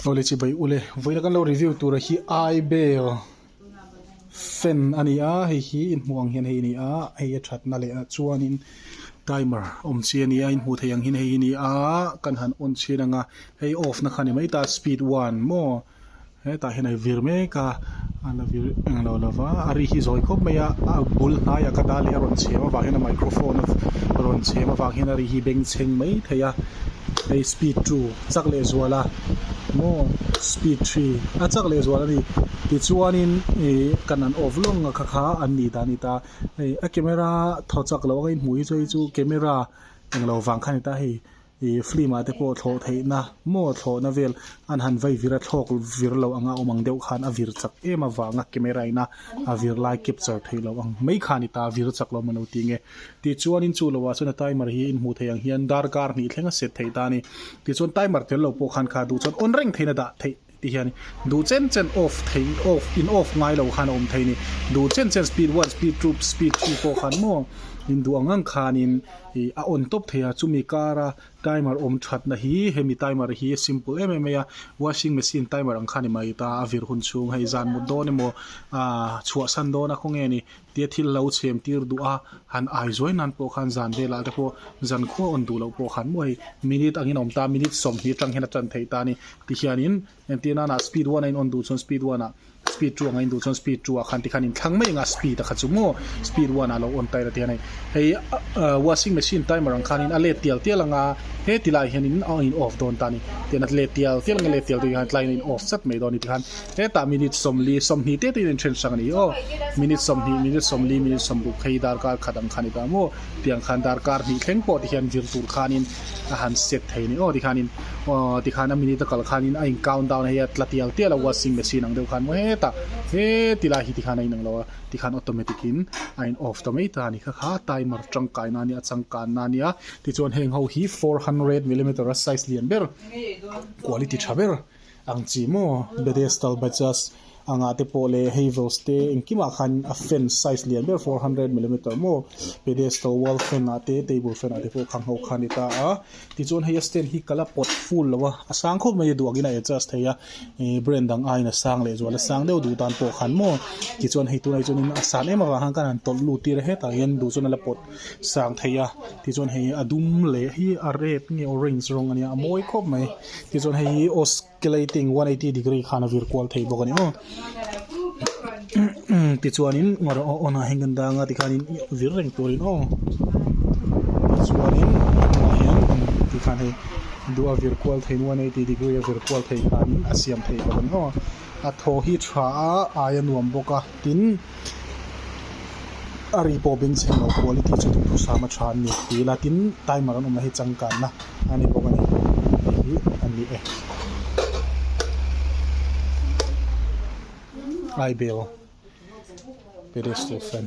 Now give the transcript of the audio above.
Aw le chi bai u le. Vawiina kan lo review tura hi aibel fan a ni a, hei hi in hmuh ang hian hei a ni a, hei a that na leh ah chuanin timer awm chi a ni a, in hmuh theih ang hian hei a ni a, kan han on chhin ang a, hei off na kha a ni mai ta speed one maw, hetah hian a i vir mek a, a la vir eng lo lo va, a ri hi zawi khawp mai a, a bul hnai a ka ta leh a rawn chhem avang hian a microphone a rawn chhem avang hian a ri hi beng chheng mai thei a, hei speed two. chak leh zual a maw speed three a chak leh zual a ni tichuanin ih kan an off lawng a kha kha an nih ta nih ta hei a camera tho chak loh ang a inhmuh hi chu hei chu camera eng lo vang kha a ni ta hei ih film ah te pawh thlawh theihna maw thlawhna vel an han vai vira thlawk vir loh ang a awm ang deuh khan a vir chak em avanga camera ina a vir lai capture theih loh ang mai kha a ni ta a vir chak loh a mawni lo ti nge. Tichuanin chu lohah chuan a timer hi inhmuh theih ang hian dar kar hnih thlenga set theih ta a ni. Tichuan timer tel lo pawh khan kha duh chuan on reng theihin a dah theih tih hi a ni. Duh chen chen off thei off in off ngai lo khan a awm thei a ni. Duh chen chen speed one, speed two, speed three, four khan maw in duh ang ngang khanin ih a on tawp thei a. Chumi kara timer awm thatna hi hemi timer hi simple em em mai a. Washing machine timer ang khan i mai ta a vir hun chhung hei zan mut dawn emaw ahh chhuahsan dawn a khaw nge ni. Tia thil lo chhem tir duh a, han aizawi nan pawh khan zan velah te pawh zan khua awn duh loh pawh khan maw hei, minute angin a awm ta a, minute sawm hi ṭang hian a ṭan theih ta a ni. Ti hianin entir nana speed one-a in on duh chuan speed one-ah, speed two anga in duh chuan speed two-ah khan tikhan inthlang mai anga speed a kha chu maw speed one-ah a lo on ta ila tihian hei. Hei washing machine timer ang khanin a let tial tial anga heti laiah hianin a in off dawn ta a ni. Tian a let tial tial anga let tial deuh hian tlaiin a in off sat mai dawn a ni tikhan Hetah minute sawmli, sawmhnih te tiin in then hrang a ni aw. Minute sawmhnih, minute sawmli, minute sawmbuk hei darkar khat ang khan i ta maw tiang khan darkar hnih thleng pawh te hian vir tur khanin a han set thei a ni aw tikhanin aw tikhan a minute a kal khanin a in count down hei a tla tial tial a washing machine ang deuh khan maw hetah he ti lai hi tikhan a inang lo a tikhan automatic in a in off ta mai ta a ni kha kha timer tangkai na nia changkan na nia tichuan heng ho hi four hundred millimeter a size lian ber quality tha ber. Ang chi maw bedestal batches anga te pawh leh hei vose te engkimah khan a fan size lian ber four hundred millimeter maw pedestal wall fan ah te table fan ah te pawh khang ho kha a ni ta a tichuan hei a stand hi kal a pawt full lo a a sang khawp mai a duak in a adjust thei a ih brand dang aiin a sang leh zual a sang deuh duh tan pawh khan maw tichuan hei tunah hi chuan in a san em avang khan kan han tawlh lut tir a hetah hian duh chuan a la pawt. sang thei a tichuan hei a dum leh hi a red nge orange rawng a nia a mawi khawp mai tichuan hei hi oscilating one eighty degree khan a vir kual thei bawk a ni aw tichuanin engawh rawh aw nahah hian kan dang a tikhanin vir reng turin aw tichuanin tunah hian tikhan hei du a vir kual theih one eighty degree a vir kual thei khan a siam thei bawk a ni aw a thaw hi tha a ai a nuam bawk a tin-- a ri pawh beng chhim loh quality chu chu hrisam a tha an ni tih ila tin timer an awmna hi changkanna a ni bawk a ni tih hi a ni e aibel pedestal fan.